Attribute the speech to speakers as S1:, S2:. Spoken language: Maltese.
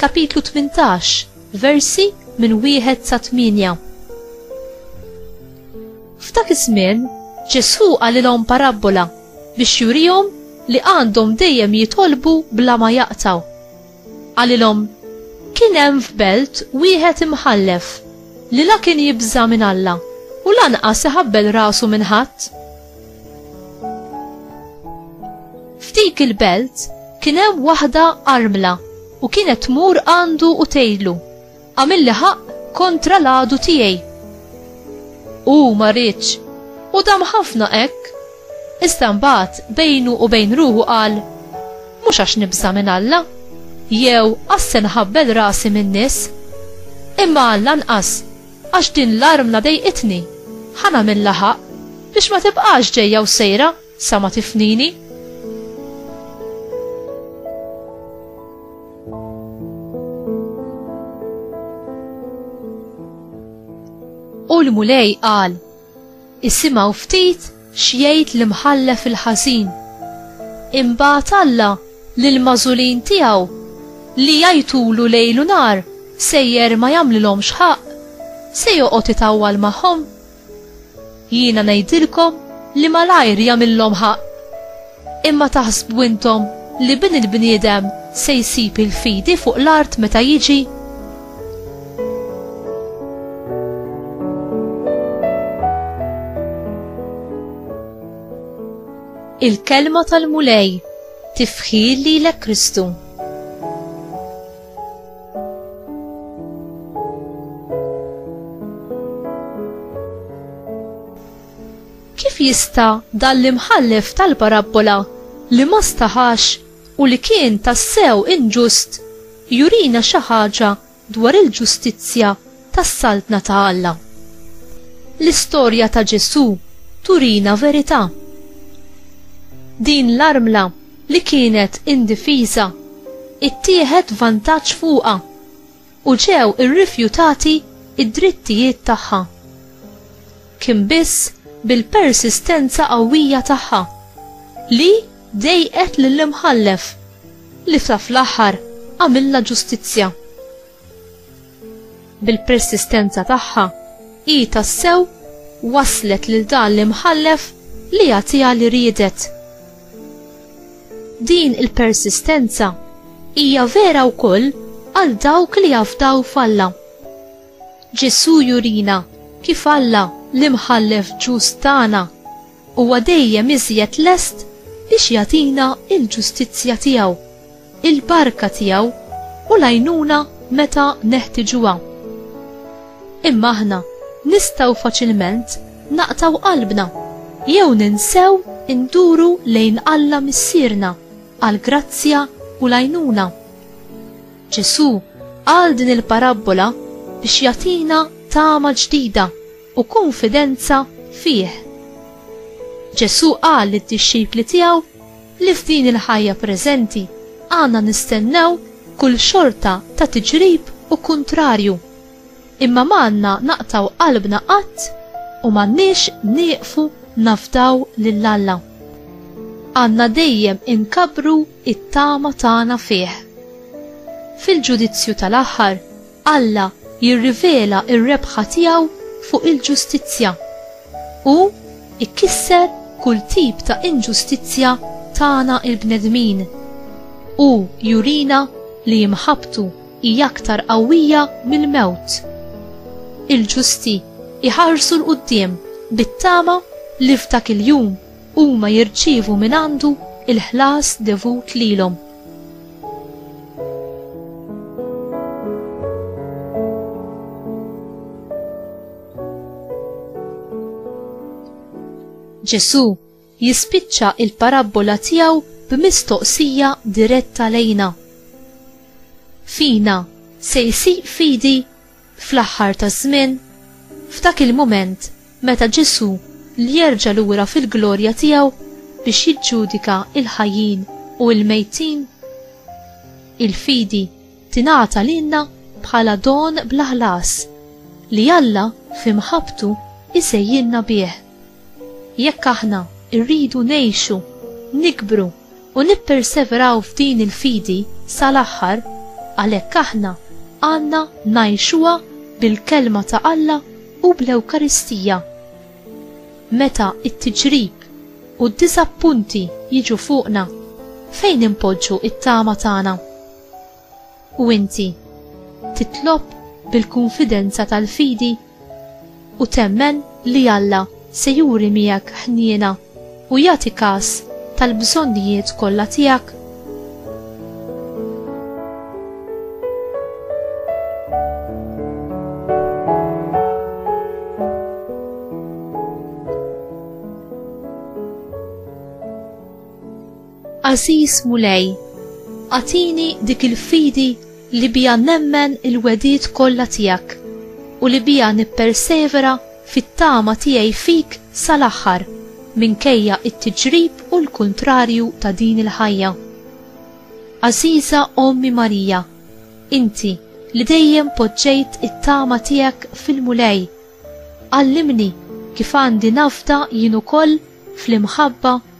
S1: Kapitlu 18, versi minn wieħed sa tmienja. F'dak iż-żmien, Ġesù qalilhom parabbola biex jurihom li għandhom dejjem jitolbu bla ma jaqtaw. Qalilhom, Kien hemm f'belt wieħed imħallef li la kien jibża' minn Alla u lanqas iħabbel rasu minn ħadd. F'dik il-belt kien hemm waħda armla u kienet tmur għandu u tgħidlu, għamilli ħaq kontra l-għadu tiegħi. U ma rridx, u dam ħafna hekk, iżda mbagħad bejnu u bejn ruħu qal, mhux għax nibża' minn Alla, jew għasse nħabbel rasi min-nies, imma Alla nqas Għax din l-armla dejqitni. Ħa nagħmilha ħaqq. Biex ma tibqax ġejja u sejra sa ma tifnini. U l-Mulej qal, Isimgħu ftit x'jgħid l-imħallef il-ħażin. Imbagħad Alla lill-magħżulin tiegħu li jgħajtulu lejl u nhar sejjer ma jagħmlilhomx ħaqq, se joqgħod itawwal magħhom? Jiena ngħidilkom li malajr jagħmillhom ħaqq. Imma taħsbu intom li Bin il-bniedem se jsib il-fidi fuq l-art meta jiġi? Il-kelma tal-Mulej tifħir lilek Kristu. Kif jista' dan l-imħallef tal-parabbola li ma staħax u li kien tassew inġust jurina xi ħaġa dwar il-ġustizzja tas-Saltna ta' Alla? L-istorja ta' Ġesù turina verità. Din l-armla li kienet indifiża, ittieħed vantaġġ fuqha. u ġew irrifjutati d-drittijiet tagħha. Kien biss bil-persistenza qawwija tagħha li dejqet lill-Imħallef li sa fl-aħħar għamilha ġustizzja. Bil-persistenza tagħha hi tassew wasslet lil dan l-Imħallef li jagħtiha li riedet. Din il-persistenza hija vera wkoll għal dawk li jafdaw f'Alla. Ġesù jurina kif Alla l-Imħallef ġust tagħna huwa dejjem iżjed lest biex jagħtina l-ġustizzja tiegħu. il-barka tiegħu u l-għajnuna meta neħtiġuha. Imma aħna nistgħu faċilment naqtaw qalbna jew ninsew induru lejn Alla Missierna għal grazzja u l-għajnuna. Ġesù qal din il-parabbola biex jagħtina tama ġdida u kunfidenza fih. Ġesù qal lid-dixxipli tiegħu li f'din il-ħajja preżenti għandna nistennew kull xorta ta' tiġrib u kuntrarju, imma m'għandna naqtgħu qalbna qatt u m'għandniex nieqfu nafdaw lil Alla. Għandna dejjem inkabbru t-tama tagħna fih. Fil-ġudizzju tal-aħħar, Alla jirrivela r-rebħa tiegħu fuq il-ġustizzja. Hu jkisser kull tip ta' inġustizzja tagħna l-bnedmin. Hu jurina li imħabbtu hi aktar qawwija mill-mewt. Il-ġusti jħarsu 'l quddiem bit-tama li f'dak il-jum huma jirċievu mingħandu l-ħlas devut lilhom. Ġesù jispiċċa il-parabbola tiegħu b'mistoqsija diretta lejna. Fina se jsir fidi Fl-aħħar taż-żmien, f'dak il-mument meta Ġesù li jerġa' lura fil-glorja tiegħu biex jiġġudika l-ħajjin u l-mejtin, il-fidi tingħata lilna bħala don bla ħlas li Alla fi mħabbtu jsejjilna bih. Jekk aħna rridu ngħixu, nikbru u nipperseveraw f'din il-fidi sal-aħħar, għalhekk aħna għandna ngħixuha bil-Kelma ta' Alla u bl-Ewkaristija. Meta t-tiġrib u d-diżappunti jiġu fuqna, fejn inpoġġu t-tama tagħna? U inti titlob bil-kunfidenza tal-fidi u temmen li Alla se juri miegħek ħniena u jagħti kas tal-bżonnijiet kollha tiegħek? Għażiż Mulej, agħtini dik il-fidi li biha nemmen il-wegħdiet kollha tiegħek u li biha nippersevera fit-tama tiegħi fik sal-aħħar minkejja t-tiġrib u l-kuntrarju ta' din il-ħajja. Għażiża Ommi Marija, inti li dejjem poġġejt it-tama tiegħek fil-Mulej, għallimni kif għandi nafda jien ukoll fl-imħabba